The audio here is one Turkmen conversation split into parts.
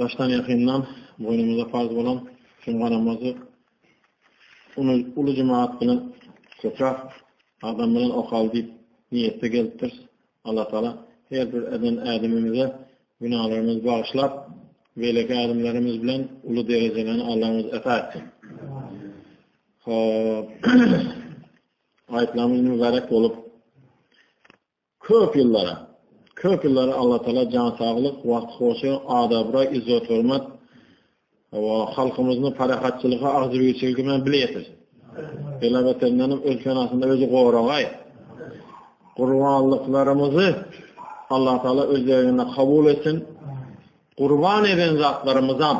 Daşdan-ýakyndan boýnumyza parz bolan jumga namazy uly jemagat bilen köpräk adam bilen okaly diýip niýetde gelipdiris. Allatagala her bir eden ädimimize günälerimizi bagyşlap, beýleki ädimlerimiz bilen uly derejelerni Allamyz ata etsin. Hop. Aýtlamyz mübärek bolup, Köp ýyllara, köp ýyllara Allatagala jan saglyk, wagt hoşy, ad-abraý, yzzet-hormat we halkymyzyň parahatçylygy, agzybirçiligi bilen bile ýetirsin. Pelabetendenem öz penasynda özi goragaý. Gurbanlyklarymyzy Allatagala öz derginde kabul etsin. Gurban eden zatlarymyzam,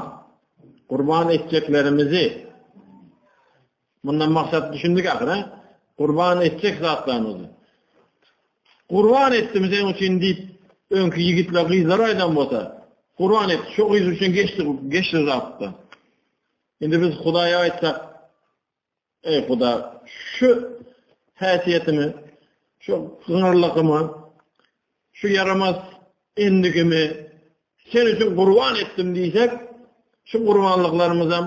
gurban etjeklerimizi Mundan maksat düşündik ahyry. Gurban etjek zatlarymyzy. Gurban etdim sen üçin diýip, öňki ýigitler, gyzlar aýdan bolsa, gurban et, şu gyz üçin geçdi, geçdi zatda. Indi biz Hudaýa aýtsak, ey Huda, şu häsiýetimi, şu gyňyrlygymy, şu ýaramaz endigimi sen üçin gurban etdim diýsek, şu gurbanlyklarymyzam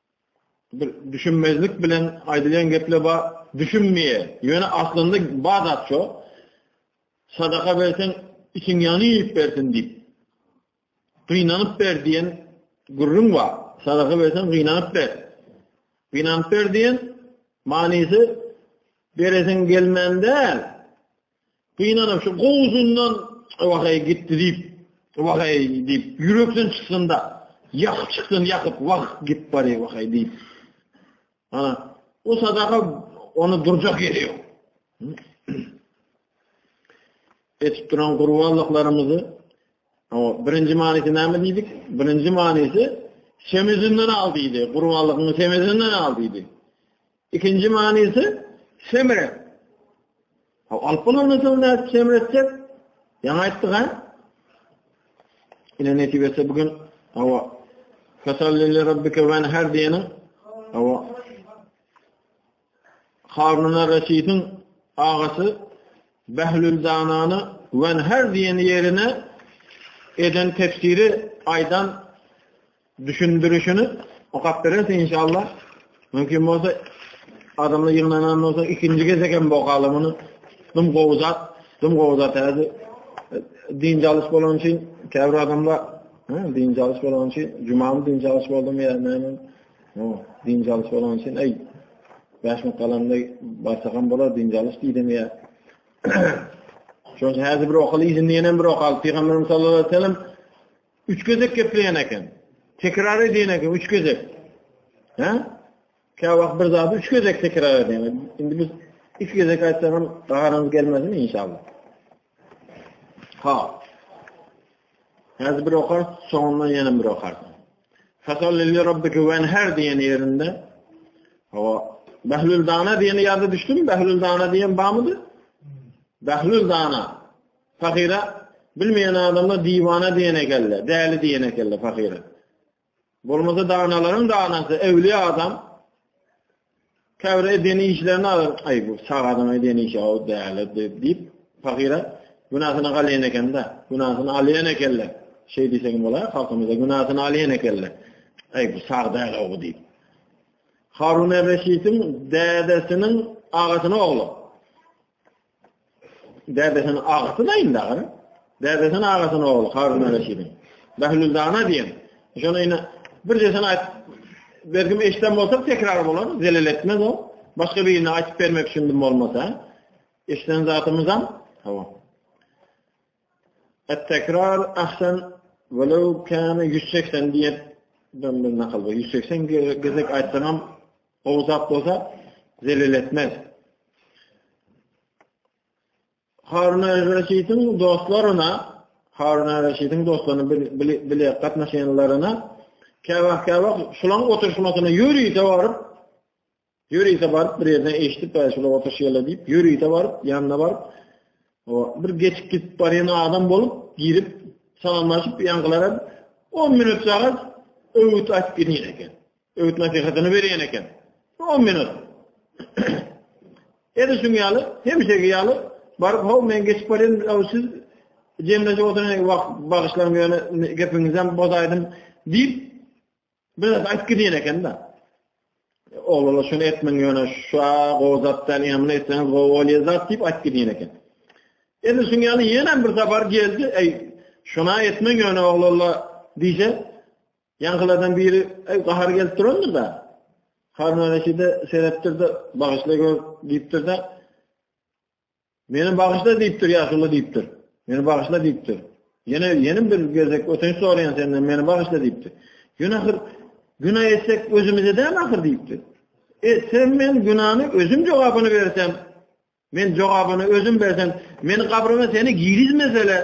Bir düşünmezlik bilen aýdylýan gepler bar, düşünmeýär. Ýöne aslynda bar zat şo. Sadaka berseň, içiň ýanyp bersin diýip. Gynanyp ber diýen gürrüň bar. Sadaka berseň, gynanyp ber. Gynanyp ber diýen manysy beresin gelmän däl. Gynanym şu gowzundan wahaý gitdi diýip, wahaý diýip, ýürekden çyksynda, ýakyp çyksyn, ýakyp, wah, git bary wahaý diýip. Ana, o sadaka onu durjak ýeri ýok. Etip duran gurbanlyklarymyzy o birinji manysy näme diýdik? Birinji manysy semizinden al diýdi. Gurbanlygyny semizinden al diýdi. Ikinji manysy semre. Ha alyp bolandan soň näçe semre etjek? Ýaňy aýtdyk ha. Ine netibesi bugün hawa Kasalli rabbike ve enher diýeniň hawa Haruna Reşidin agasy Behlül Danany ve enher diýen ýerine eden tefsiri aýdan Düşündirişini okap bereris inşallah. Mümkin bolsa adamlar ýygnanan bolsa ikinji gezek hem okaly muny. Dum gowy zat, dum gowy zat häzi. Din jalyş bolan üçin käbir adamlar din jalyş bolan üçin jumamy din jalyş boldum ýa näme? No, din jalyş bolan üçin eý. Bäş minut galanda barsa hem bolar din jalyş diýdim ýa. Şoňa häzi bir okaly izinden hem bir okaly. Pygamberimiz sallallahu aleyhi ve sellem Üç gezek gepleýän eken. Tekrar edýän eken üç gezek. Hä? Kä wagt bir zady üç gezek tekrar edýän. Indi biz iki gezek aýtsak hem gaharymyz gelmezmi inşallah. Ha. Häzir bir okar, soňundan ýene bir okar. Fasal lilli rabbiki wen her diýen ýerinde. Ha. Behlül dana diýeni ýada düşdüm. Behlül dana diýen bamydy? Behlül dana. Pahyra bilmeýän adamlar diwana diýen ekende, däli diýen ekende pahyra. Bolmasa danalaryň danasy öwli adam. Käbir eden işlerini alyr. Aý bu sag adam eden işi aw däli diýip pahyra günasyny galýan ekende, günasyny alýan ekende. Şeý diýseň bolar, halkymyzda günasyny alýan ekende. Aý bu sag däli aw diýip. Harun Reşidiň dädesiniň agasynyň ogly. Dädesiniň agasy daýym dagyn. Dädesiniň agasynyň ogly Harun Reşidiň. Behlül dana diýen. Şony ýene bir jesini aýt. Bergim eşden bolsa tekrar bolar, zelel etmez o. Başga birine aýtyp bermek üçin bolmasa. Eşden zatymyzam. Hawa. At-tekrar ahsen welew kana ýüz segsen diýip döndüm nakal bu. Ýüz segsen gezek aýtsaňam gowy zat bolsa zelil etmez. Harun al-Reşidiň dostlaryna, Harun al-Reşidiň dostlaryna bile gatnaşýanlaryna käwagt-käwagt şulaň oturşmasyna ýörite baryp Ýörite baryp bir ýerden eşidip bäş ýyl otuş ýerle diýip, ýörite baryp, ýanyna baryp, o bir geçip gidip barýan adam bolup girip salamlaşyp ýaňylara 10 minut sagat öwüt aýdyp gidýän eken. Öwüt nasihatyny berýän eken. 10 minut. Edi şuň ýaly, hemişeki ýaly baryp, "Haw, men geçip barýan, aw siz jemleşip oturan wagt bagyşlaryň ýöne gepiňizem bozaýdym" diýip Biraz aýt gidýän eken-de. Oglala şunu etmeň ýöne şa gozatdan emni etseňiz gowy bolýar zat diýip aýt gidýän eken. Edil şuň ýaly ýene bir sapar geldi. Eý, şuna etmeň ýöne oglala diýse, ýaňkylardan biri eý gahar gelip durandyr da. Harun Reşide seretdir de, bagyşla gör diýipdir de. Meni bagyşla diýipdir, ýaşuly diýipdir. Meni bagyşla diýipdir. Ýene ýene bir gezek ötünç soraýan senden meni bagyşla diýipdir. Ýöne ahyr günä etsek özümize däl ahyr diýipdir. E sen men günäni özüm jogabyny bersem, men jogabyny özüm bersem, meni kabryma seni girizmesele,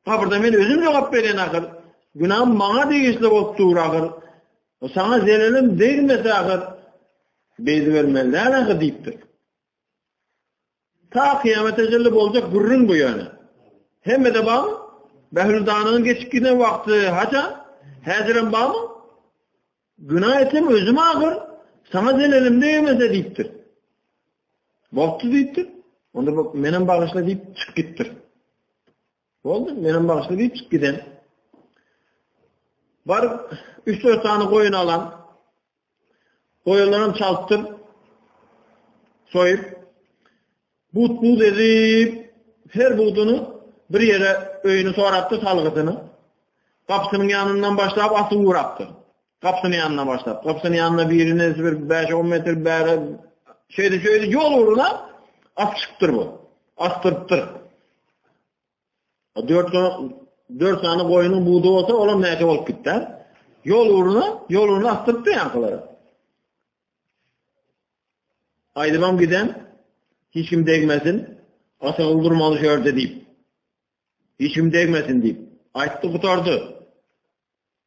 kabrda men özüm jogap beren ahyr. Günäm maňa degişli bolup dur ahyr. Sana zelelim degmese ahyr. Beýdi bermeli däl ahyr diýipdir. Ta kyýamete çenli boljak gürrüň bu ýöne. Hemmede barmy? Bähüldananyň geçip giden wagty haça? Häzirem barmy? Günä etsem özüm agyr, sana zelelim degmese diýipdir. Boldy diýipdir. Onda bak menem bagyşla diýip çykyp gitdir. Boldy, menem bagyşla diýip çykyp giden. Bar 3-4 sany goýun alan, Goýunlaram çaltdyr soýup, but-but edip, her buduny bir ýere öýüni sorapdy salgydyny. Gapysynyň ýanyndan başlap asy urapdy. Gapysynyň ýanyndan başlap. Gapysynyň ýanynda birini bir 5-10 metr bäri şeýle-şeýle ýol uruna at çykypdyr bu. Asdyrypdyr. 4 sany 4 sany goýunyň budy bolsa, olam näçe bolup gitdi? Ýol uruna, ýol uruna astypdy ýaňkylar. Aýdymam giden, hiç kim degmesin, asagyl durmaly şu ýerde diýip. Hiç kim degmesin diýip. Aýtdy gutardy.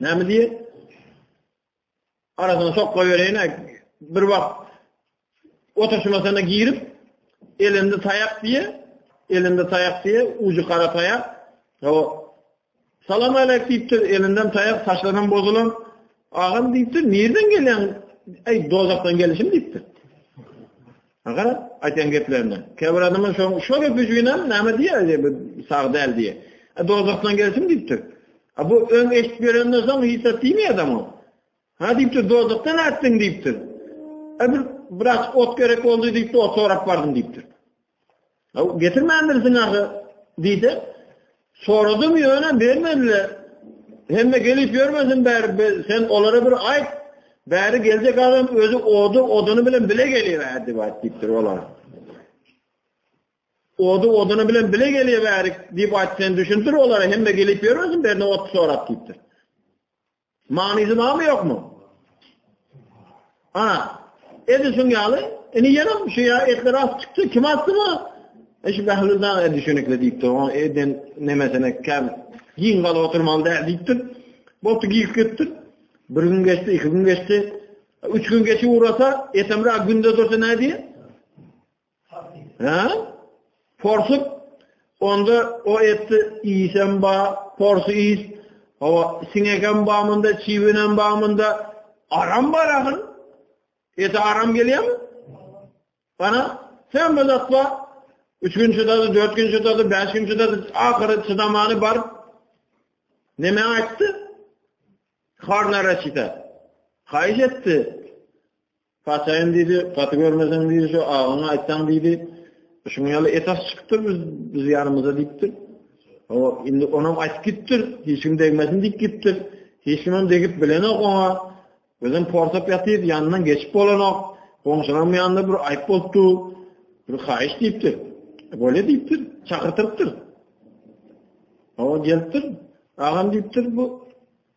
Näme diýer? Aradan sokla berene bir wagt oturşymasana girip elinde taýak diýe, elinde taýak diýe, uju gara taýak. O Salam aleyk diýipdir, elinden taýak saçlanan bozulan. Agam diýipdir, "Nirden gelýän? Ey, dozakdan gelişim" diýipdir. Aňkar aýtýan geplerine. Käbir adamlar şoň şol öp üçinem näme diýýär diýip sag däl diýýär. E dozakdan gelsin diýipdir. A bu öň eşit berenden soň hiç zat diýmeýär adam o. Ha diýipdir dozakdan atdyň diýipdir. E bir biraz ot gerek boldy diýipdir, ot sorap bardym diýipdir. Aw, getirmändirsiň ahy, diýse, soradym ýöne bermediler. Hemme gelip ýörmesin bäri, sen olara bir aýt. Bäri geljek adam özi ody, oduny bilen bile gelýär diýip aýtdypdyr olara. Ody, oduny bilen bile gelýär bäri diýip aýt, sen düşündir olara, hemme gelip ýörmesin, berine ot sorap diýipdir. Manysy barmy ýokmy? Ana, edi şuň ýaly, ini ýenem şu ýa etler as çykdy, kim asdy bu? Eş Behlül daň edi şönekle diýipdir, oň eden nemesine kem giň galyp oturmaly däl diýipdir. Boldy giýip gitdir. Bir gün geçdi, iki gün geçdi. Üç gün geçip uğrasa, etemra günde dursa ne diye? Hä? Porsyk onda o etdi iýsem ba, porsy iýs. Hawa, siňegem bamynda, çiwinem bamynda, aram bar ahyn. Ete aram gelýärmi? Bana sen bir zat bar. Üç gün çydady, dört gün çydady, beş gün çydady, ahyry çydamany bar. Neme aýtdy? Harna raşita. Haýyş etdi. Paçaýyn diýdi, gaty görmeseň diýdi, şu agyňy aýtsaň diýdi. Şuň ýaly esas çykdyr biz, biz ýanymyza diýipdir. O indi onam aýtyp gitdir, hiç kim degmesin diýip gitdir. Hiç kim hem degip bilenok oňa. Özüm porsap ýatyp, ýanyndan geçip bolanok. Goňşularym ýanynda bir aýyp bolupdy. Bir haýyş diýipdir. E, Böyle diýipdir, çakyrtyrypdyr. O gelipdir, agam diýipdir bu.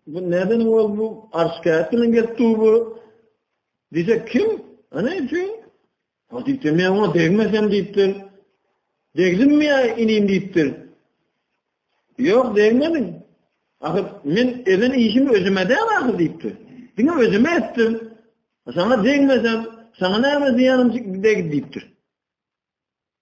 Bu neden ol bu arşkatdan gelipdi bu? Diýse kim? Ana üçin? O diýse men oňa degmesem diýipdir. Degdim mi ýa inim diýipdir. Ýok degmedim. Ahyr men eden işimi özüme de ahyr diýipdir. Diňe özüme etdim. Sana degmesem, sana näme diýenim degdi diýipdir.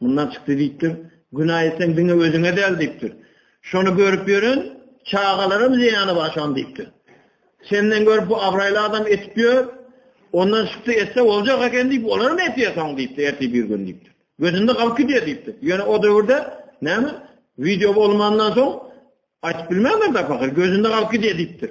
Mundan çykdy diýipdir. Günä etseň diňe özüňe däl diýipdir. Şony görüp ýören çagalarym zyýany bar şony diýipdir. Senden görüp bu abraýly adam etip ýör. Ondan çykdy etse boljak eken diýip olar hem etýär soň diýipdir. Erti bir gün diýipdir. Gözünde galyp gidýär diýipdir. Ýöne o döwürde näme? Wideo bolmandan soň aýdyp bilmändir da pahyr. Gözünde galyp gidýär diýipdir.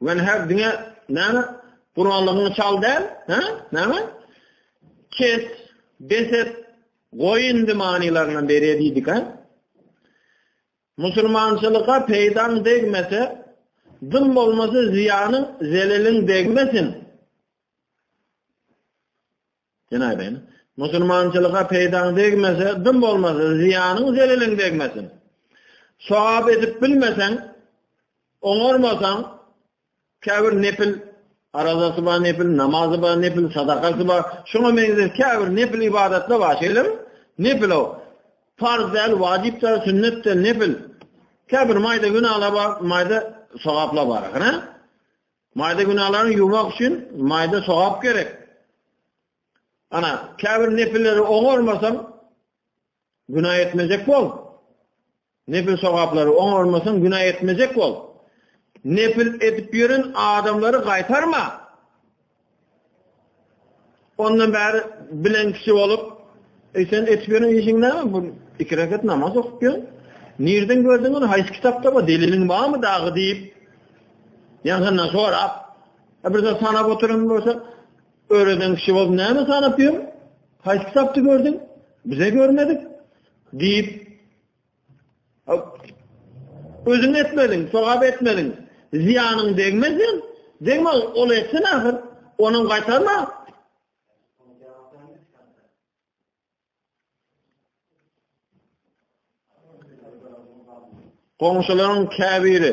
Men her diňe näme? Gurallygyňy çal däl, hä? Näme? Kes, beset, goý indi manylaryny bere diýdik, hä? Musulmançylyga peýdaň degmese, dym bolmasa zyýanyň, zeleliň degmesin. Ýene aýdaýyn. Musulmançylyga peýdaň degmese, dym bolmasa, zyýanyň, zeleliň degmesin. Sogap edip bilmeseň, oňarmasaň, käbir nepil arazasy bar, nepil namazy bar, nepil sadakasy bar. Şuňa meňzeş käbir nepil ibadatlar bar, şeýlemi? Nepil o. Farz däl, wajyp däl, sünnet däl, nepil. Käbir maýda günalar bar, maýda sogaplar bar, ha? Maýda günäleriňi ýuwmak üçin maýda sogap gerek. Ana, käbir nepilleri oňarmasaň, günä etmejek bol. Nepil sogaplary oňarmasaň, günä etmejek bol. Nepil edip ýören adamlary gaýtarma. Ondan bäri bilen kişi bolup, e, sen etip ýören işiň näme? Bu iki rekat namaz okup ýör. Nirden gördüň ony? Haýsy kitapda bu? Deliliň barmy dagy diýip, ýaňyndan sorap, e, bir zat sanap oturan bolsa, öreden kişi bolup näme sanap ýör? Haýsy kitapda gördüň? Bize görmedik diýip, Özüň etmediň, sogap etmediň, zyýanyň degmez diýen. Degme, ol etsin ahyr, onuň gaýtarma. Goňşularyň käbiri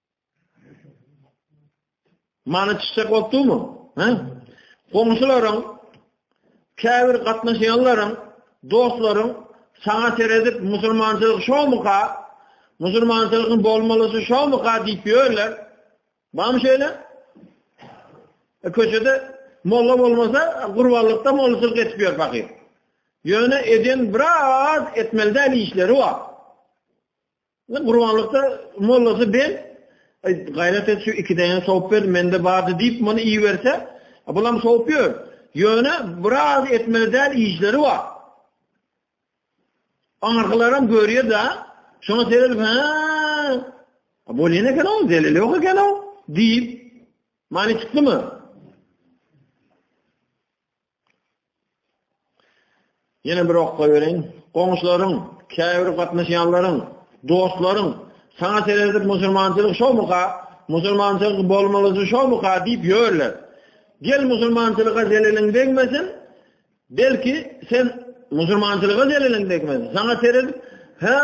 Mana çişek bolupdymy? Hä? Goňşularyň, käbir gatnaşýanlaryň, dostlaryň saňa seredip musulmançylyk şomyka, musulmançylygyň bolmalysy şomyka diýip ýörler. Bam şeýle? E, köçede molla bolmasa, gurbanlykda mollaçylyk etip ýör pakyr. Ýöne eden biraz etmeli däl işleri bar. Gurbanlykda mollasy ben gaýrat et şu iki däne sowup ber mende bardy diýip muny iýerse bulam sowup ýör. Ýöne biraz etmeli däl işleri bar. Aňyrgylaram görýär da şoňa seredip ha bolýan eken o zelil ýok eken o diýip many çykdymy? Ýene bir okga bereýin. Goňşularyň, käbir gatnaşýanlaryň, dostlaryň saňa seredip musulmançylyk şomyka, musulmançylyk bolmalysy şomyka diýip ýörler. Gel musulmançylyga zeleliň degmesin, belki sen musulmançylyga zeleliň degmesin. Saňa seredip, ha,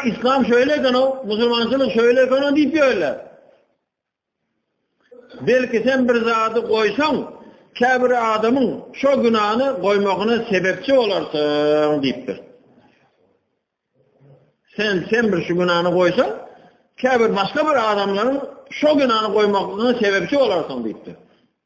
islam şöyle eken o, musulmançylyk şöyle eken o diýip ýörler. Belki sen bir zady goýsaň, käbir adamyň şo günäni goýmagyna sebepçi bolarsyň diýipdir. Sen sen bir şu günäni goýsaň, käbir başga bir adamlaryň şo günäni goýmagyna sebepçi bolarsyň diýipdir.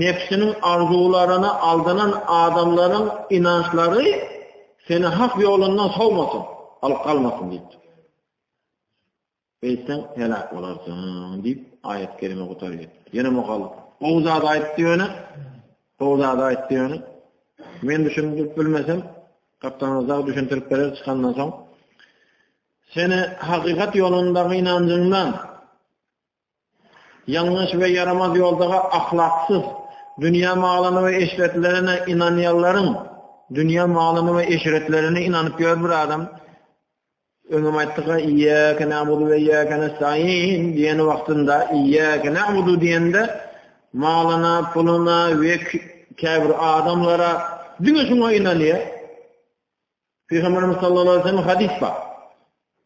Nebsiniň arzuwlaryna aldanan adamlaryň ynançlary seni hak ýolundan sowmasyn, alyp galmasyn diýipdir. Beýtseň heläk bolarsyň diýip aýat kelime gutar gitdi. Ýene mugallym. Gowy zat aýtdy ýöne, gowy zat aýtdy ýöne. Men düşündirip bilmesem, gapdanyň zat düşündirip berer çykandan soň. Seni hakykat ýolundaky ynanjyňdan Ýalňyş we ýaramaz ýoldaga ahlaksyz, dünýä malyna we eşretlerine ynanýanlaryň, dünýä malyna we eşretlerine ynanyp ýör bir adam, öňem aýtdyk, iýäke näbudu we iýäke nestaýin diýen wagtynda, iýäke näbudu diýende, malyna, puluna we käbir adamlara diňe şuňa ynanýar. Pygamberimiz sallallahu aleyhi ve sellem hadis bar.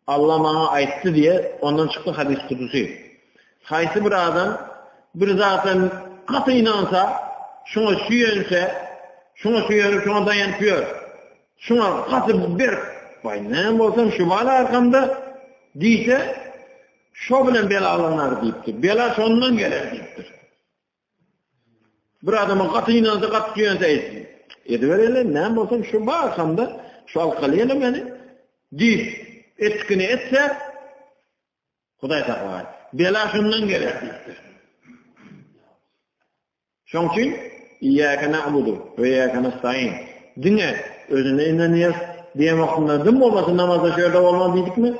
Allah maňa aýtdy diýe, ondan çykdy hadis kudusy. Haýsy bir adam bir zata gaty ynansa, şuňa süýense, şuňa süýenip, şuňa daýanyp ýör. Şuňa gaty bir baý näme bolsam şu bala arkamda diýse, şo bilen bela alynlar diýipdir. Bela şondan geler diýipdir. Bir adama gaty ýansa gat ýansa aýt. Edibereli, näme bolsa şu bar şamda, şu alkalyny meni diýip etkini etse Hudaý saklay. Bela şundan geler. Şoň üçin iýäke na'budu we iýäke nestaîn. Diňe özüne inanýar. Diýen wagtynda dim bolmasyn namazda şeýle bolmaly diýdikmi?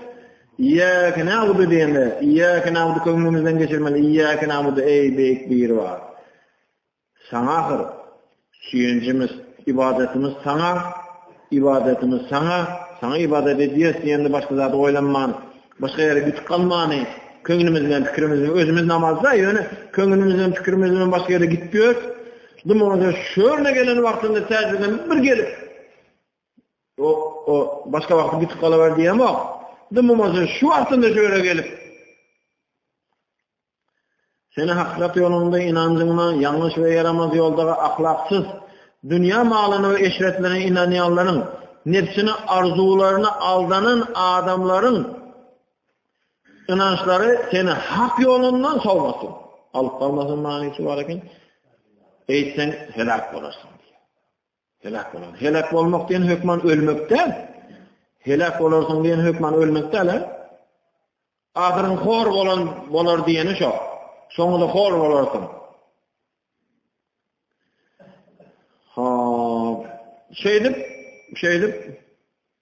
Iyyake na'budu diýende, iyyake na'budu köňlümizden geçirmeli. Iyyake na'budu eý beýik bir bar. Saňa ahyr süýenjimiz, ibadatymyz saňa, ibadatymyz saňa, saňa ibadat edýäs diýende başga zat oýlanman, başga ýere gitip galmany, köňlümiz bilen pikirimiz bilen özümiz namazda, ýöne köňlümiz bilen pikirimiz bilen başga ýere gitýär. Dymyň şöne gelen wagtynda täzeden bir gelip O, o, başga wagty gitip galawer diýemok. Dymymajy şu wagtynda şu ýere gelip. Seni hakykat ýolunda inanjyňyna ýalňyş we ýaramaz ýoldaga ahlaksyz dünýä malyna we eşretlerine inanýanlaryň nefsini arzuwlaryna aldanan adamlaryň inançlary seni hak ýolundan sowmasyn. Alyp galmasyn manysy bar eken. Eýtseň helak bolarsyň. Heläk bolan. Heläk bolmak diýen hökman ölmek däl. Heläk bolarsyň diýen hökman ölmek däl. Ahyryň hor bolan bolar diýeni şo. Soňunda hor bolarsyň. Ha, şeýdip, şeýdip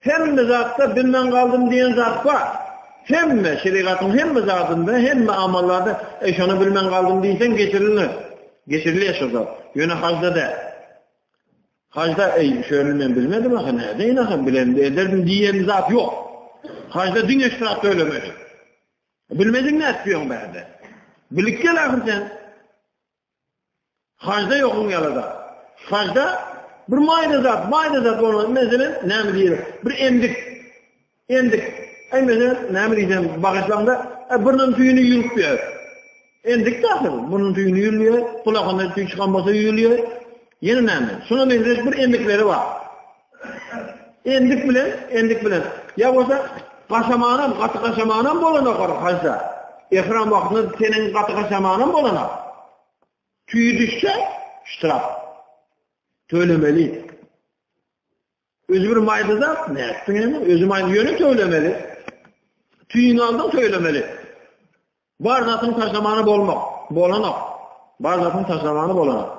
Hemme zatda bilmän galdym diýen zat bar. Hemme şerigatyň hemme zadynda, hemme amallarda e, şony bilmän galdym diýseň geçirilmez. Geçirilýär şo zat. Ýöne hajda däl. Hajda eý, şöni men bilmedim ha, näde ýene ha bilen ederdim diýen zat ýok. Hajda diň eşrat ölemeli. Bilmediň nätdiň bärde. Bilip gel ahir sen. Hajda ýokuň ýaly zat. Hajda bir maýda zat, maýda zat bolmaz. Meselem, näme diýer? Bir endik. Endik. Aý meselem, näme diýsem, bagyşlaňda, e, biriniň tüýüni ýürüp ýör. Endik zat bu. Bunun tüýüni ýürüyor, kulakyndan tüý çykan bolsa ýürüyor. Ýene näme? Şuna meňzeş bir endikleri bar. Endik bilen, endik bilen. Ýa bolsa gaşamanam, gaty gaşamanam bolanok ora haja. Ehram wagtynda seniň gaty gaşamanam bolanok. Tüýi düşse, ştraf. Tölemeli. Özü bir mayda da, ne etsin yani? Özü mayda yönü tölemeli. Tüyün aldım tölemeli. Bar zatın taşlamanı bolmak. Bolanok. Bar zatın taşlamanı bolanok.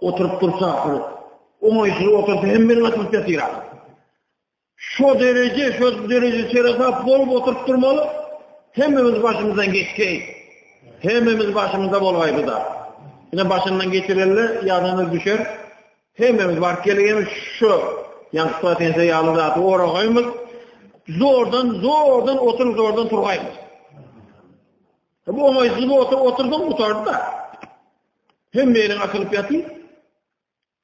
Oturup dursa, oňaýsyz otursa hem meni atyp ýatyr. Şu dereje, şu dereje çeresap bolup oturup durmaly. Hemmemiz başymyzdan geçseý. Hemmemiz başymyzda bolaýdy da. Ine başyndan geçirenler ýadana düşer. Hemmemiz bar gelýän şu ýaňky patense ýaly zat oragaýmyz. Zordan, zordan oturup zordan turgaýmyz. Bu oňaýsyz bolsa otursaň gutardy-da. Hemme ýeriň açylyp ýatyr.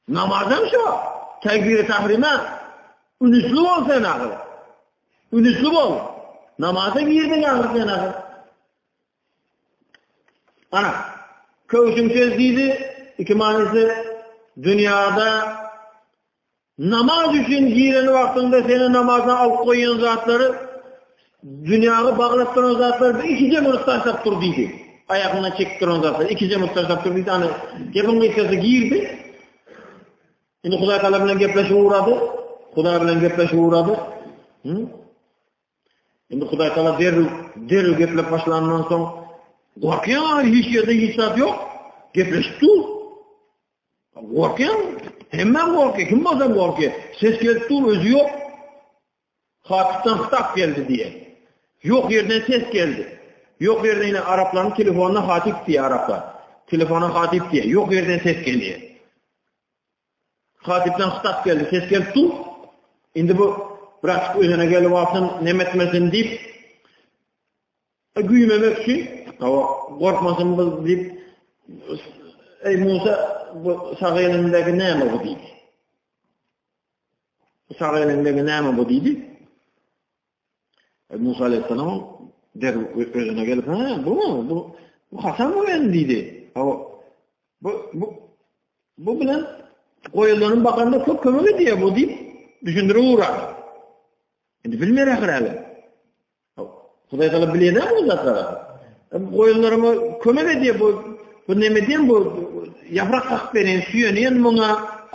Namaz hem şo. Tekbir-i tahrime ünisli bol sen agyr. Ünisli bol. Namaza girdiň agyr sen agyr. Ana, köwşüm söz diýdi, iki manysy dünýäde Namaz üçin giren wagtyňda seni namaza alyp goýan zatlary dünýäge baglap duran zatlar bir iki jemgyýet taşlap dur diýdi. Aýagyndan çekip duran zatlar iki jemgyýet taşlap dur diýdi. Ana gepiň gysgasy girdi. Indi Hudaý taala bilen gepleşip ugrady. Hudaý bilen gepleşip ugrady. Indi Hudaý taala derrew derrew geplep başlandan soň gorkýar, hiç ýerde hiç zat ýok. Gepleşip dur. Gorkyň? Hemme gorky, kim bolsa gorky. Ses gelip dur, özi yok. Hatipden staf geldi diye. Yok yerden ses geldi. Yok yerden yine Arapların telefonuna hatip diye Araplar. Telefona hatip diye. Yok yerden ses geliyor. Hatipden staf geldi, ses gelip dur. Şimdi bu bırakıp özüne gelip alsın, nemetmesin deyip E, güýmemek üçin, hawa, gorkmasyn bu diýip, eý Musa, bu sag elindäki näme bu diýdi. Bu sag elindäki näme bu diýdi. E, Musa aleyhisselam der özüne gelip, ha, bu mu? Bu, bu Hasan mı ben diýdi. Hawa, bu, bu, bu bilen goýulanyň bakanda köp kömek edýär bu diýip, düşündirip ugra. Indi bilmeýär ahir Hudaý Taala bilýär bu zatlary. Goýunlaryma kömek edýär bu. Bu näme diýen bu? Ýaprak gakyp beren, süýenýän muňa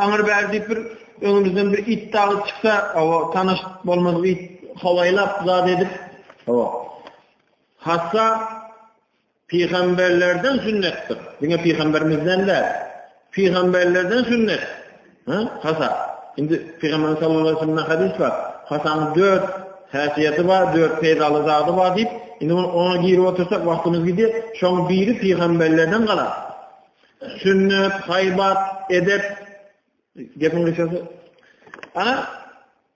aňyr bär diýip bir öňümizden bir it dagy çyksa, awa tanyş bolmaz it hawaýlap zat edip. Awa. Hatda Pygamberlerden sünnetdir. Diňe pygamberimizden däl. Pygamberlerden sünnet. Ha? Hasa. Indi Pygamber sallallahu aleyhi ve sellem'den hadis var. Hasan'ın dört häsiýeti bar, dört peýdaly zady bar diýip, indi bunu ona girip otursak wagtymyz gider. Şoň biri pygamberlerden galar. Sünnet, haýbat, edep, gepiň gysgasy. Ana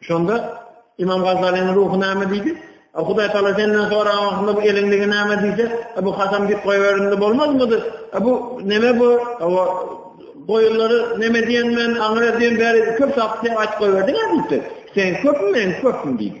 Şonda İmam Gazalynyň ruhu näme diýdi? Hudaý Taala senden soragan wagtynda bu eliňdäki näme diýse, bu hasam diýip goýberende bolmazmydy? Bu näme bu? Awa goýunlary näme diýen men aňyra diýen bäri köp sapdy aç goýberdiň diýdi. Sen köpmi men köpmi diýdi.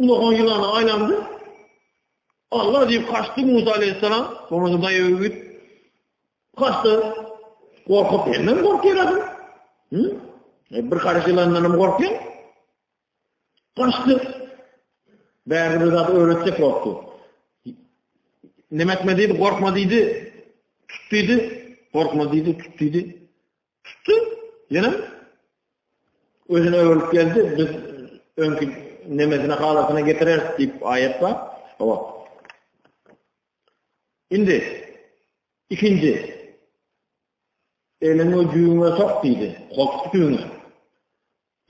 Ulagan ýylana aýlandy. Allah diýip kaçdy Musa aleyhisselam. Sonra da daýaw git. Kaçdy. Gorkup benden gorkýar adam. Hı? E, bir karış ýylandan hem gorkýar. Kaçdy. Bäri bir zat öwretjek bolupdy. Nemetme diýdi, gorkma diýdi. Tut diýdi. Gorkma diýdi, tut diýdi. Tutdy. Ýene özüne öwrülip geldi. Biz öňki nemesine halatyna getireris diýip aýat bar. Hawa. Indi ikinji elini düýüňe sok diýdi. Koltuk düýüňe.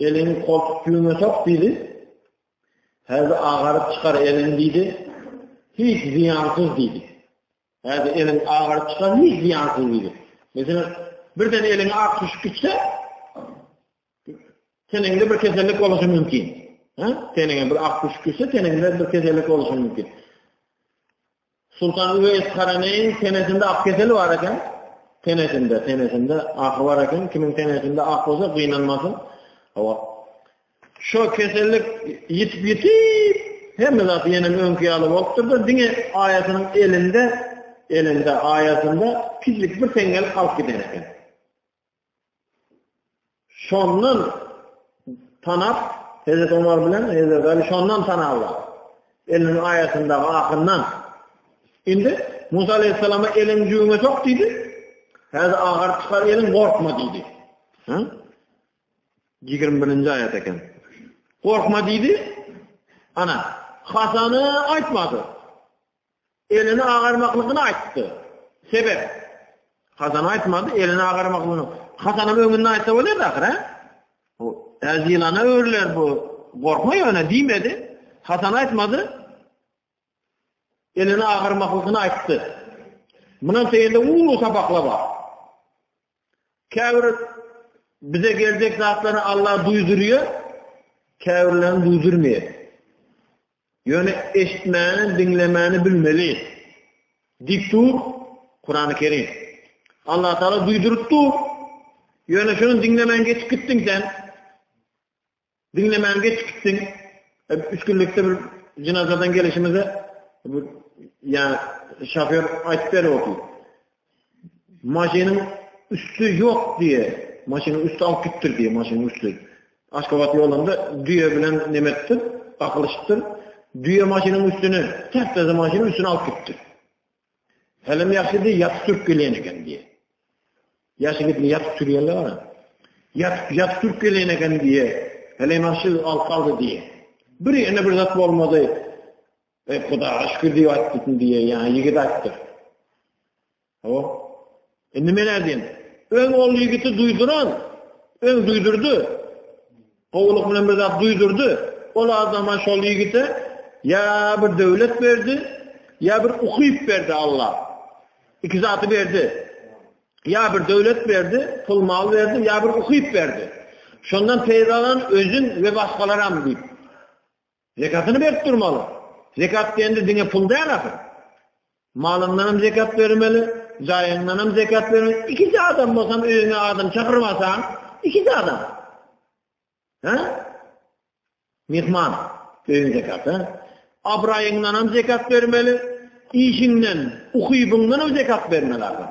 Elini koltuk düýüňe sok diýdi. Häzir agaryp çykar elini diýdi. Hiç ziýansyz diýdi. Häzir eliň agaryp çykar, hiç zyýansyz diýdi. Meselem, birden eliň ak düşüp gitse, teninde bir kesellik boluşy mümkin. Ha? Teninde bir ak düşüp gitse, teninde bir kesellik boluşy mümkin. Sultan Üveýs Karaneýin tenesinde ak keseli bar eken. Tenesinde, tenesinde ak bar eken. Kimin tenesinde ak bolsa, gynanmasyn. Hawa, Şo kesellik ýitip ýitip hemme zat ýene öňki ýaly bolupdyr-da, diňe aýasynyň elinde, elinde aýasynda kiçijik bir teňňel galyp giden eken. Şondan tanap Hezret Omar bilen Hezret Ali şondan tanaplar. Eliniň aýasyndaky ahyndan. Indi Musa aleyhissalama elin jüňe sok diýdi. Häzir agar çykar elin gorkma diýdi. Hı? Ýigrimi birinji aýat eken. Gorkma diýdi. Ana, hasany aýtmady. Elini agarmaklygyny aýtdy. Sebäp Hazan aýtmady, elini agarmaklygyny. Hazanyň öňünde aýtsa bolardy ahyr, he? Bu äzilana öwrüler bu. Gorkma ýöne diýmedi. Hazan aýtmady. Elini agarmaklygyny aýtdy. Munan teýinde uly sapakla bar. Käbir bize geljek zatlary Allah duýdurýar, käbirlerini duýdurmaýar. Ýöne eşitmäni, diňlemäni bilmeli. Diktu Kur'an-ı Kerim. Allah Teala duýdurypdy. Ýöne şunu diňlemän geçip gitdiň sen. Diňlemän geçip gitdiň. Üç günlükde bir jynazadan gelişimizde ýa şofýor aýtdy beripdi. Maşynyň üsti ýok diýe, maşynyň üsti alyp gitdir diýe, maşynyň üsti. Aşgabat ýolunda düýe bilen nemetdir, gakylyşypdyr. Düýe maşynyň üstüne, täpde maşynyň üstüne alyp gitdi. Hälem ýagşy diý, ýat türk gelen eken diý. Ýaşy gitdi ýat türýänler bar. Ýat ýat türk gelen eken diý. Hälem ýagşy al kaldy diý. Bir ýene bir zat bolmady. Ey Hudaýa şükür diý ýat gitdi diý. Ýa ýigit aýtdy. O Indi men nädeyim? Öň ol ýigiti duýduran, öň duýdurdy. Gowulyk bilen bir zat duýdurdy. Ol adama şol ýigite ýa bir döwlet berdi, ýa bir ukyp berdi Allah. İki zatı berdi. Ýa bir döwlet berdi, pul mal berdi, ýa bir ukyp berdi. Şondan peýdalan özün we başgalar hem diýip. Zekatyny berip durmaly. Zekat diýende diňe pul däl ahyry. Malyňdan hem zekat bermeli, jaýyňdan hem zekat bermeli. Ikisi adam bolsam öýüňe adam çagyrmasaň, ikisi adam. Ha? Mehman öýüň zekaty. Abraýyňdan hem zekat bermeli, işiňden, ukybyňdan hem zekat bermeli adam.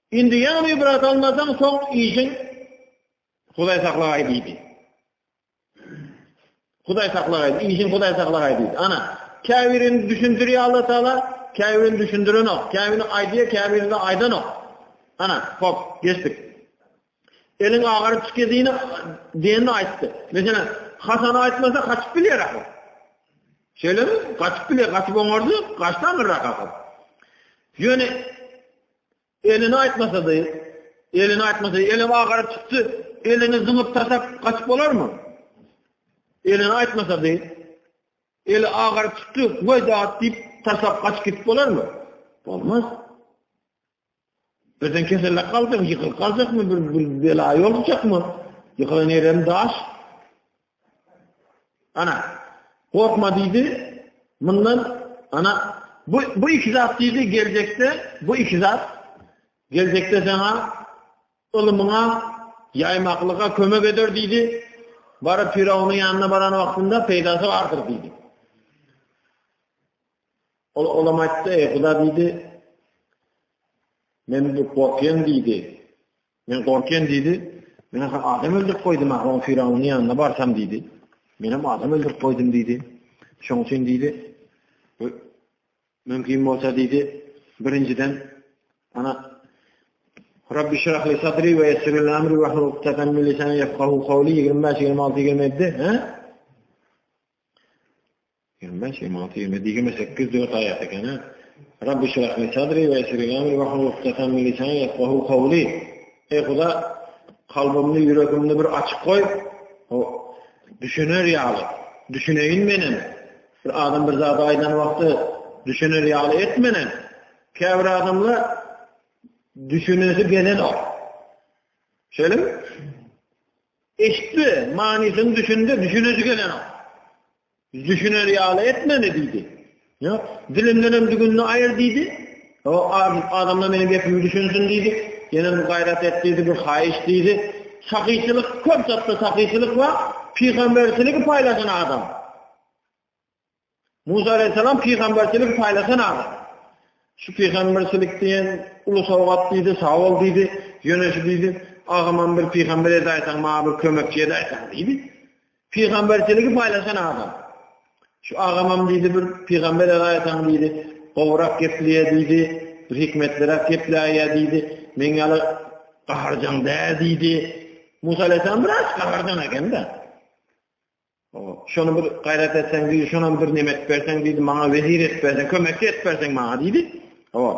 Indi ýaňy ibrat almasaň, soň işiň Hudaý saklagaý diýdi. Hudaý saklagaý, işiň Hudaý saklagaý diýdi. Ana, käbirini düşündirýär Allah Taala, käbirini düşündirenok, käbirini aýdýar, käbirini aýdanok. Ana, hop, geçdik. Eliň agaryp çykydyny diýenini aýtdy. Meselem, Hasan aýtmasa gaçyp bilýär ahyr. Şeýlemi? Gaçyp bilýär, gaçyp oňardy, gaçdy aňyrrak ahyr. Ýöne elini aýtmasady, elini aýtmasady, eli agaryp çykdy, elini zyňyp tasap gaçyp bolarmy? Elini aýtmasady, eli agaryp çykdy, weýdat diýip tasap gaçyp gidip bolarmy? Bolmaz. Birden kesellap galjak, ýykylyp galjakmy, bir bela ýolukjakmy? Ýykylan ýerem daş. Ana, gorkma diýdi. Mundan ana bu bu iki zat diýdi geljekde, bu iki zat geljekde sana ylymyňa ýaýmaklyga kömek eder diýdi. Baryp Firawunyň ýanyna baran wagtynda peýdasy bardyr diýdi. Ol olam aýtdy, Eý, Huda diýdi, Men bu gorkýan diýdi. Men gorkýan diýdi. Men ha adam öldürip goýdum, ha on firawnyň ýanyna barsam diýdi. Men hem adam öldürip goýdum diýdi. Şoň üçin diýdi. Mümkin bolsa diýdi, birinjiden ana Rabbi şirah li sadri we yessir li amri ve hlul uktadan min lisani yefkahu kavli 25-26 gelmedi. He? Ýigrimi bäş, ýigrimi alty, ýigrimi ýedi, ýigrimi sekiz, dört aýat eken-ä. Rabbi yşrah li sadri we yessir li amri wahlul ukdatan min lisani yefgahu kawli. Eý Huda, kalbymny, ýüregimni bir açyk goý. O düşüner ýaly, düşüneýin menem. Bir adam bir zady aýdan wagty düşüner ýaly et menem. Käbir adamlar düşünesi gelenok. Şeýlemi? Eşitdi, manysyny düşündi, düşünesi gelenok. Düşüner ýaly et meni, diýdi. Ýa, dilimden hem dügünini aýyr, diýdi. O, adamlar meniň gepimi düşünsin, diýdi. Ýene bir gaýrat et, diýdi, bir haýyş, diýdi. Sahyçylyk, köp zatda sahyçylyk bar, pygamberçiligi paýlaşan adam. Musa aleyhisselam peygamberçilik paylaşan adam. Şu peygamberçilik diyen ulu savgat diydi, sağ ol diydi, yöneşi diydi. Ağaman bir peygamber edaysan, mağa bir kömekçi edaysan diydi. Pygamberçiligi paýlaşan adam. Şu agamam diýdi bir pygambere gaýtaň diýdi. Gowrak geplýär diýdi. Bir hikmetliräk gepläýýär diýdi. Men ýaly gaharjaň däl diýdi. Musa aleyhisselam biraz gaharjaň ekende. Şonu bir gaýrat etseň diýdi, şonam bir nemet berseň diýdi, maňa wezir et berseň, kömekçi et berseň maňa diýdi. Hop.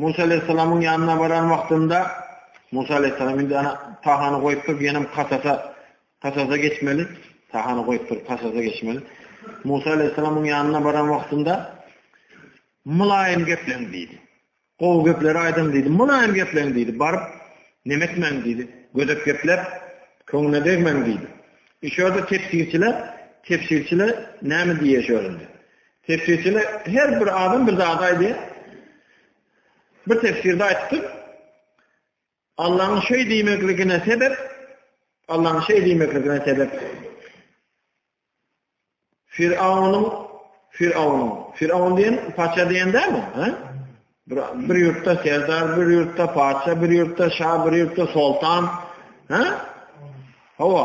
Musa aleýhissalamyň ýanyna baran wagtynda, Musa aleýhissalam indi ana Tahany goýupdyr, diýenem Kasasa, Kasasa geçmeli. Tahany goýupdyr, Kasasa geçmeli. Musa aleýhissalamyň ýanyna baran wagtynda Mylaýym gepleň diýdi. Gowy gepleri aýdyň diýdi. Mylaýym gepleň diýdi. Baryp, nemetmäň diýdi. Gödek geplep, köňüne degmäň diýdi. Şurada tefsirçiler, tefsirçiler näme diýýär şurada? Tefsirçiler her bir adam bir zat aýdýar. Bir tefsirde aýtdy. Allah'ın şey diýmekligine sebep Allah'ın şey diýmekligine sebep Firavunun Firavunun Firavun diýen paça diýende mi? Ha? Bir, bir ýurtda serdar, bir ýurtda paça, bir ýurtda şah, bir ýurtda sultan. Ha? Hawa.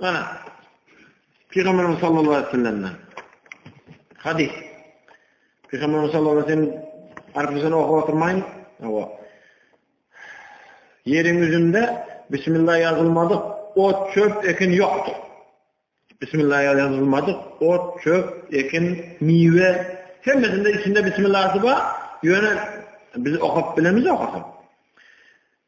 Ana, Pygamberimiz sallallahu aleyhi ve sellem'den hadis. Pygamberimiz sallallahu aleyhi ve sellem arpasını oku oturmayın. Ava. Yerin yüzünde Bismillah yazılmadık ot çöp ekin yoktu. Bismillah yazılmadık ot çöp ekin mive hemmesinde içinde Bismillah'ı var. Yöne biz okap bilemiz okasın.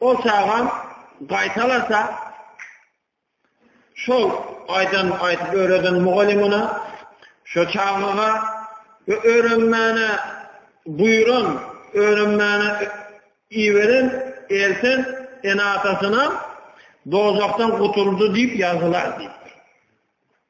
Ol çagam gaýtalasa, şol aýdan aýdyp öwreden mugallymyna, şo çagaga we öwrenmäne buýran, öwrenmäne iweren, elten ene-atasyna dozahdan gutuldy diýip ýazylar diýipdir.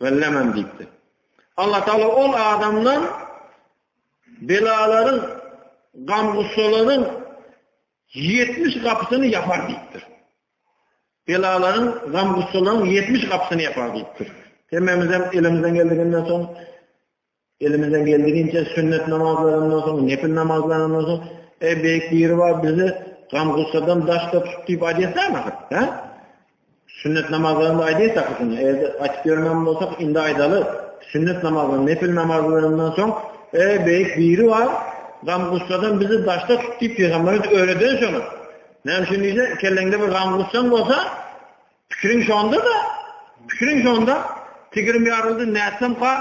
Bellemem diýipdi. Allah Taala ol adamdan belalaryň, gam-gussalaryň 70 gapysyny ýapar diýipdir. Belalaryň, gam-gussalaryň 70 gapysyny ýapar diýipdir. Hemmemizem elimizden geldiginden soň Elimizden geldiginçe sünnet namazlaryndan soň, nepil namazlaryndan soň, e, beýik biri bar, bizi gam-gussadan daşda tut diýip aýdýarsan ahyr, hä? Sünnet namazlarynda aýdýarsak şuny, eger açyp ýörmän bolsak, indi aýdaly, sünnet namazlaryndan, nepil namazlaryndan soň, e, beýik biri bar, gam-gussadan bizi daşda tut diýip Peygamberimiz öwreden şony. Näme üçin diýse, kelleňde bir gam-gussaň bolsa, Pikiriň şonda-da, pikiriň şonda, tigrim ýaryldy, nätsemka,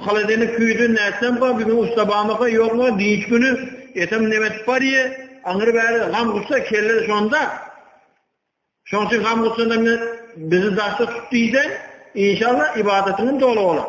haladenik küýdi, nätsemka, bir gün usta barmyka, ýokmy, dynç güni, etem neme edip barýa, aňry-bäri gam-gussa, kelle şonda. Şonuň üçin gam-gussada bizi daşda tut diýseň, inşallah, ybadatyňam doly bolar.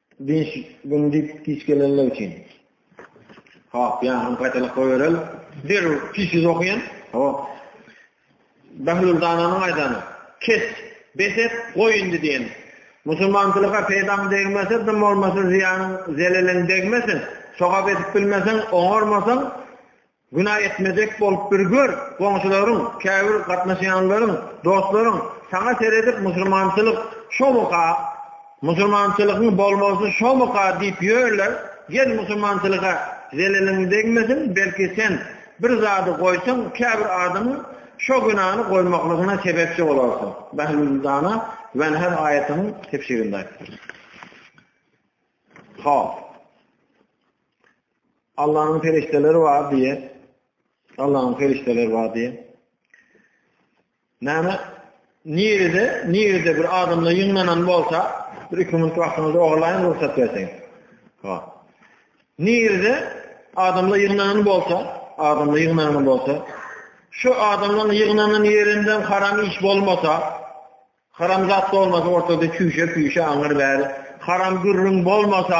Dynç gün diýip giç gelenler üçin. Hop, ýanyny gaýtalap goýberel. Derrew tiz-tiz okaýan. Hop. Bahlul dananyň aýdany. Kes, bes et, goý indi diýen. Musulmançylyga peýdaň degmese, dym bolmasa zyýanyň, zeleliň degmesin. Sogap edip bilmeseň, oňarmasaň, Günä etmejek bolup bir gör, goňşularyň, käbir gatnaşýanlaryň, dostlaryň saňa seredip musulmançylyk şomyka, musulmançylygyň bolmalysy şomyka diýip ýörler, gel musulmançylyga zeleliň degmesin, belki sen bir zady goýsaň käbir adamyň şo günäni goýmaklygyna sebepçi bolarsyň. Behlüldana Wenher aýatynyň tefsirinde aýtdylar. Hop. Allah'ın perişteleri var diye. Allah'ın perişteleri var diye. Näme? Nirede, nirede bir adamla ýygnanan bolsa, bir iki minut wagtyňyzy ogurlaýyn rugsat berseň. Ha. Nirede adamla ýygnanan bolsa, adamla ýygnanan bolsa, şu adamlaryň ýygnanan ýerinden haram iş bolmasa, haram zat bolmasa, ortada çüýşe-püýşe aňyr bäri, haram gürrüň bolmasa,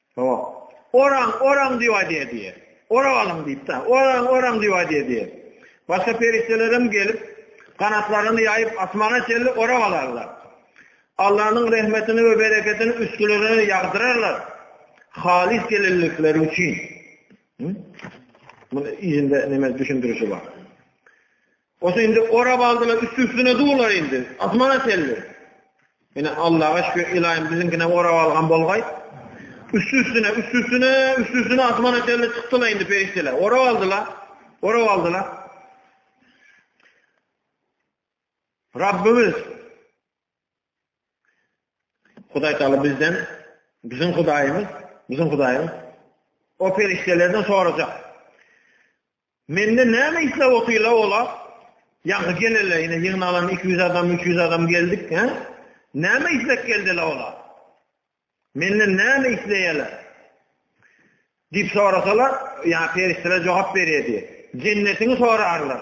Hawa. Oraň, oraň diýip aýdýar diýýär. Orap alyň diýip-de. Oraň, oraň diýip aýdýar diýýär. Başga perişdelerem gelip, ganatlaryny ýaýyp, asmana çenli orap alarlar. Allanyň rehmetini we bereketini üstlerine ýagdyrarlar. Halys gelinlikleri üçin. Muny ýerinde näme düşündirişi bar. Bolsa indi orap aldylar, üsti-üstüne durlar indi. Asmana çenli. Ine Allaha şükür, ilaýym biziňkine orap algan bolgaý. Üsti-üstüne, üsti-üstüne, üsti-üstüne asmana çenli çykdylar indi perişdeler. Orap aldylar. Orap aldylar. Rabbimiz Hudaý taala bizden biziň Hudaýymyz, biziň Hudaýymyz o perişdelerden sorajak. Mende näme isläp otyrlar olar? Ýaňky gelele ine ýygnalan iki ýüz adam, üç ýüz adam geldik, hä? Näme isläp geldiler olar? Menden näme isleýärler? Diýip sorasalar, ýa perişdeler jogap berýärdi. Jennetiňi sorarlar.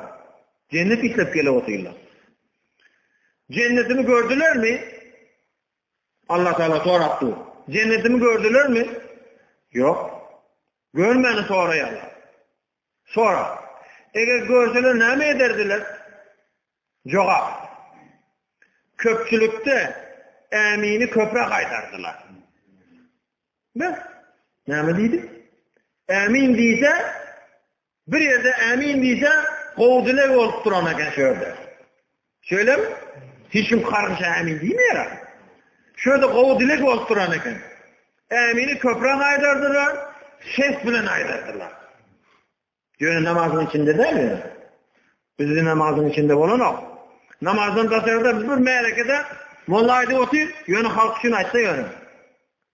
Jennet isläp gelip otyrlar. Jennetimi gördülermi? Allah Taala sorapdy. Jennetimi gördülermi? Ýok. Görmäni soraýarlar. Sorag. Eger görseler näme ederdiler? Jogap. Köpçülikde ämini köpräk aýdardylar. Bes. Näme diýdi? Ämin diýse, Bir ýerde ämin diýse, gowy dileg bolup duran eken şu ýerde. Şeýlemi? Hiç kim karşy ämin diýmeýär. Şu ýerde gowy dileg bolup duran eken. Ämini köpräk aýdardylar, ses bilen aýdardylar. Ýöne namazyň içinde däl. Bizi namazyň içinde bolanok. Namazdan daşarda bir märekede molla aýdyp otyr, ýöne halk üçin aýtsa ýöne.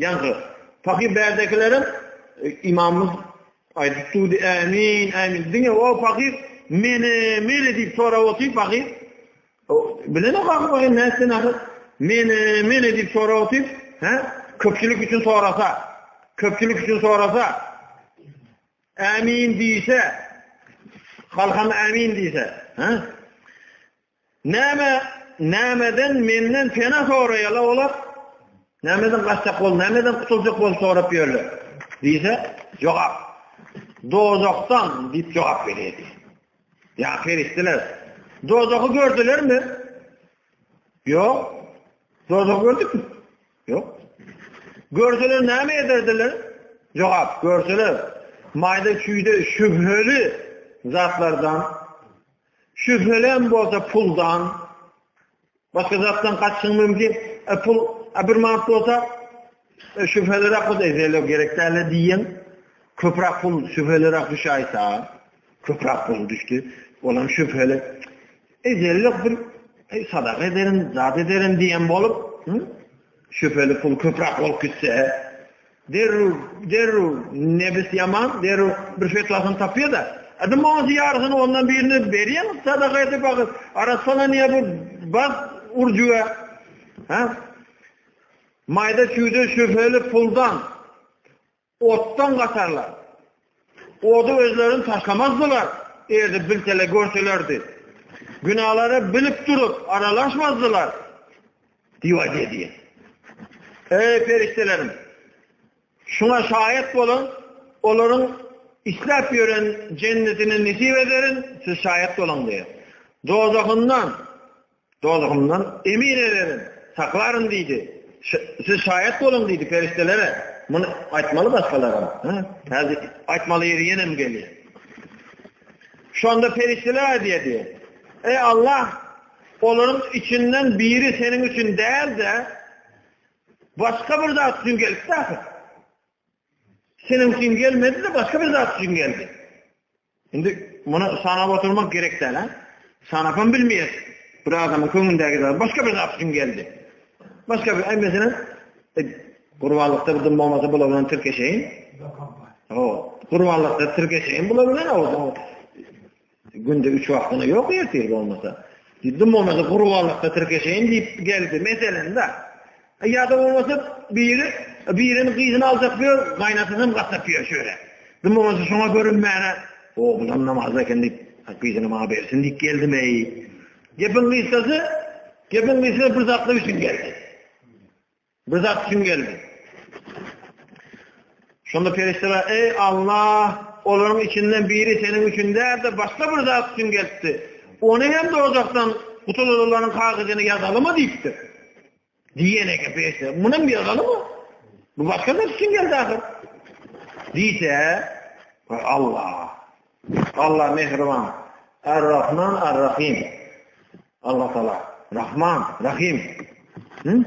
Ýaňky pahyr bärdekileriň imamymyz aýdyp durdy, ämin, ämin. Diňe o pahyr meni, meni diýip sorap otyr pahyr. Bilene kakam o näçe näçe meni, meni diýip sorap otyr. Hä? Köpçülik üçin sorasa, köpçülik üçin sorasa, ämin diýse, halkam ämin diýse, hä? Näme, nämeden menden pena soraýarlar olar? Nämeden gaçjak bol, nämeden gutuljak bol sorap ýörler? Diýse, jogap. Dozakdan diýip jogap berýärdi. Ýa perişdeler. Dozaky gördülermi? Ýok. Dozak gördükmi? Ýok. Görseler näme ederdiler? Jogap, görseler maýda küýde şübheli zatlardan Şübhelem bolsa puldan, başga zatdan gaçyň mümkin. E pul, a bir manat bolsa, e, şübhelere akut edele gerek däle diýen, köprak pul şübhelere akut şaýta, köprak pul düşdi, olam şübhele. Edele bir e, sadaka ederim, zat ederim diýen bolup, Şübheli pul köprak bolup gitse, derrew, derrew, nebis ýaman, derrew bir fetwasyny tapýar-da, Adam bolsa ýarysyny ondan birini berýän sadaka edip agyr. Arassalan ýa bu baz urjuga. Ha? Maýda çüýde şübheli puldan Otdan gaçarlar. Ody özlerini taşlamazdylar, eger-de bilseler, görselerdi. Günalary bilip durup, aralaşmazdylar. Diýip aýdýar diýen. Ey perişdelerim! Şuňa şaýat boluň, olaryň isläp ýören jennetini nesip ederin, siz şaýat boluň diýýär. Dozahyndan Dozahymdan emin ederin, saklaryn diýdi. Siz şaýat boluň diýdi perişdelere. Muny aýtmaly başgalara. Häzir aýtmaly ýeri ýenem gelýär. Şonda perişdeler aýdýardy. Eý Allah, olaryň içinden biri seniň üçin däl-de, başga bir zat üçin gelipdi ahyr. Seniň üçin gelmedi-de, başga bir zat üçin geldi. Indi muny sanap oturmak gerek däl-ä. Sanapam bilmeýäs. Bir adamyň köňlündäki zat başga bir zat üçin geldi. Başga bir, aý meselem, e, gurbanlykda bir dym bolmasa bular bilen tirkeşeýin. O, gurbanlykda tirkeşeýin bular bilen o. Günde üç wagtyna ýok ertir bolmasa. Dym bolmasa gurbanlykda tirkeşeýin diýip geldi. Meselem-de. Ýa-da bolmasa biri biriniň gyzyny aljak diýer, gaýnasy hem gaçak diýer şöyle. Kim bolsa şoňa görünmäne, o bulam namazda eken diýip, gyzyny maňa bersin diýip geldim eý. Gepiň gysgasy, gepiň gysgasy bir zatlar üçin geldi. Bir zat üçin geldi. Şonda perişdeler, eý Allah, olaryň içinden biri seniň üçin däl de başga bir zat üçin geldi. Ony hem dozakdan gutulalaryň kagyzyny ýazalymy diýipdir. Diýen eken peşde. Munam ýygnaly bu. Bu başga zat üçin geldi ahyr. Diýse, Allah. Allah mehriban. Ar-Rahman, Ar-Rahim. Allah Taala. Rahman, Rahim. Hı?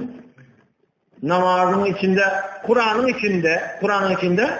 Namazın içinde, Kur'an'ın içinde, Kur'an'ın içinde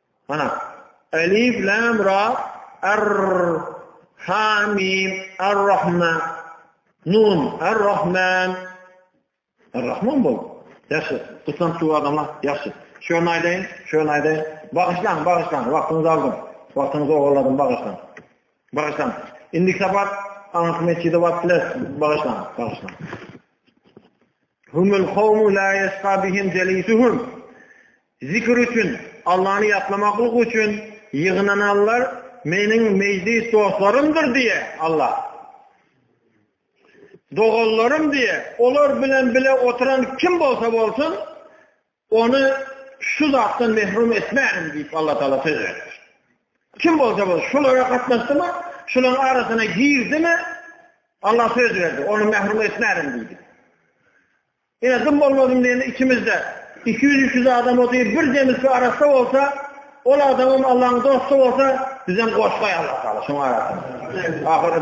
Mana. Elif lam ra ar ha mim ar rahma nun ar rahman ar rahman bol. Ýaşy, tutan şu adamlar ýaşy. Şöni aýdaýyn, şöni aýdaýyn. Bagyşlaň, bagyşlaň, wagtyňyzy aldym. Wagtyňyzy ogurladym, bagyşlaň. Bagyşlaň. Indi sabat aňky mesjide wagt bilen bagyşlaň, bagyşlaň. Humul kawmu la yasqa bihim jalisuhum. Zikir üçin, Allany ýatlamaklyk üçin ýygnananlar Meniň mejlis dostlarymdyr diýýär, Alla. Doganlarym diýýär. Olar bilen bile oturan kim bolsa bolsun, ony şu zatdan mehrum etmärin diýip, Alla Taala söz beripdir. Kim bolsa bolsun, şulara gatnaşdymy, şularyň arasyna girdimi, Alla söz berdi, ony mehrum etmärin diýdi. Ine, dym bolmasyn diýende içimizde iki ýüz, üç ýüz adam otyr, bir jemisi arassa bolsa, ol adamam Allaň dosty bolsa, bizem goşgaý Allatagala şoň arasynda. Ahyry.